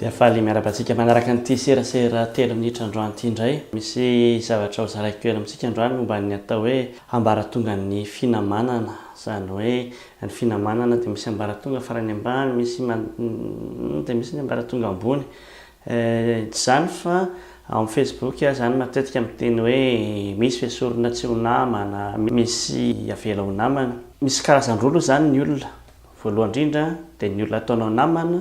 Dia faly miarahaba antsika manaraka an'ity serasera telo minitra androany ity indray. Misy zavatra hozaraiko kely amintsika androany momba ny atao hoe ambaratongan'ny finamanana. Izany hoe ny finamanana dia misy ambaratonga farany ambany, misy dia misy ny ambaratonga ambony. Ehh tsy zany fa ao am facebook aho zany matetika miteny hoe misy ve sorona tsy ho namana, misy avela ho namana. Misy karazany roa aloha zany ny olona, voalohany indrindra dia ny olona ataonao namana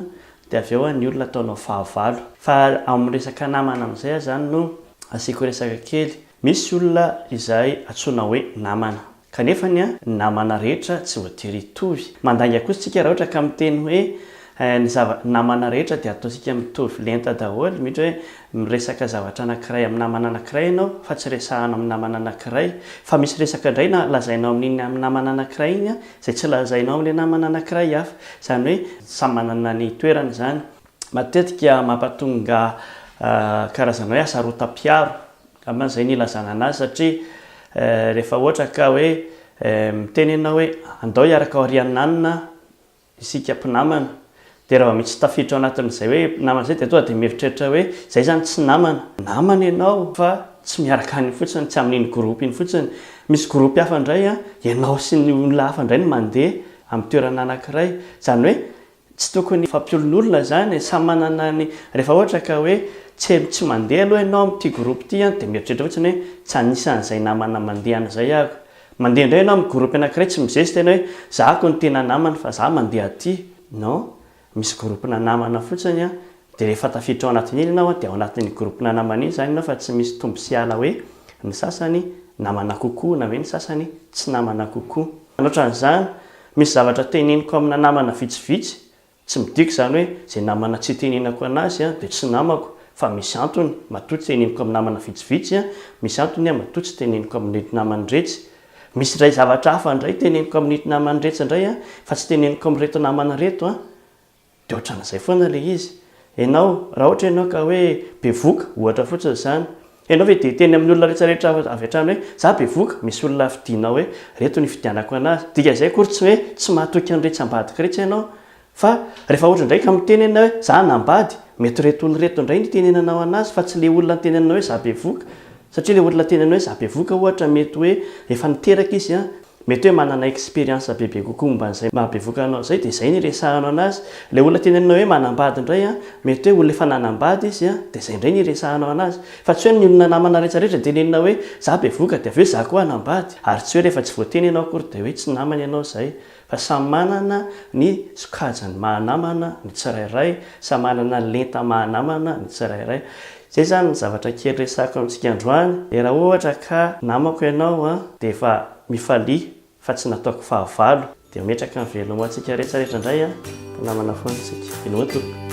dia avy eo ny olona ataonao fahavalo. Fa am resaka namana amzay aho zany no asiako resaka kely, misy olona izay antsoina hoe namana, Kanefa ny namana rehetra tsy voatery hitovy. Mandainga kosa isika raha ohatra ka miteny hoe ny zava, namana rehetra dia ataontsika mitovy lenta daholo, mety hoe miresaka zavatra anankiray amin'ny namana anankiray ianao fa tsy resahana amin'ny namana anankiray. Fa misy resaka indray na lazainao amin'iny amin'ny namana anankiray iny izay tsy lazainao amin'ilay namana anankiray hafa. Izany hoe samy manana ny toerany izany. Matetika mampatonga karazana hoe asarotam-piaro angamba izay no ilazana anazy satria rehefa ohatra ka hoe miteny ianao hoe andao hiaraka aorian'ny nanona isika mpinamana dia raha vao misy tafiditra ao anatin'izay hoe mpinamana izay dia tonga dia mieritreritra hoe izay izany tsy namana. Namana ianao fa tsy miaraka any fotsiny, tsy amin'iny groupe iny fotsiny. Misy groupe hafa indray ianao sy ny olona hafa indray no mandeha amin'ny toerana anankiray. Izany hoe. Tsy tokony fampiolonolona zany e, samy manana ny, rehefa ohatra ka hoe tsy tsy mandeha aloha ianao amin'ity groupe ity an, dia mieritreritra fotsiny hoe tsy anisan'izay namana mandehana zay aho, mandeha indray ianao amin'ny groupe anankiray tsy mizesta ianao hoe za ko no tena namana fa za mandeha aty, non, misy groupe-na namana fotsiny an, Dia rehefa tafiditra ao anaty milina aho dia ao anatin'ny groupe-na namana iny izany ianao fa tsy misy tombo sy ala hoe ny sasany namana kokoa na hoe ny sasany tsy namana kokoa. Anotran'izany, misy zavatra teneniko amina namana vitsivitsy, tsy midika izany hoe izay namana tsy itenenako anazy dia tsy namako fa misy antony matoa teneniko amin'ny namana vitsivitsy, misy antony matoa tsy teneniko amin'ireto naman'iretsy. Misy indray zavatra hafa indray teneniko amin'ito naman'iretsy indray fa tsy teneniko amin'ireto namana ireto. Dia ohatran'izay foana ilay izy. Ianao, raha ohatra ianao ka hoe bevoka, ohatra fotsiny izany, ianao ve dia hiteny amin'ny olona rehetra rehetra avy hatrany hoe, izaho bevoka, misy olona fidinao hoe, ireto no ifidianako an'azy. Dikan'izay akory tsy hoe tsy mahatoky an'iretsy ambadika iretsy ianao. Fa rehefa ohatra indray ka miteny ianao hoe, izaho hanambady, mety ireto olona ireto indray no hitenenanao an'azy fa tsy ilay olona nitenenanao hoe izaho bevoka. Satria ilay olona nitenenanao hoe izaho bevoka ohatra mety hoe efa niteraka izy an. Mety hoe manana experience bebe kokoa momba an'izay maha bevoka anao izay dia izay no iresahanao anazy. Ilay olona teneninao hoe manambady indray an, mety hoe olona efa nanambady izy an, dia izay indray no iresahanao anazy. Fa tsy hoe ny olona namana rehetra rehetra no teneninao hoe za bevoka dia avy eo za koa hanambady. Ary tsy hoe rehefa tsy voateny ianao akory dia hoe tsy namany ianao izay. Fa samy manana ny sokajiny maha namana ny tsirairay, samy manana ny lenta maha namana ny tsirairay. Zay zany ny zavatra kely resahiko amintsika androany de raha ohatra ka namako ianao an de efa mifalia fa tsy nataoko fahavalo de ametraka ny velona ho antsika rehetra rehetra indray an mpinamana foana isika inoa tompoko.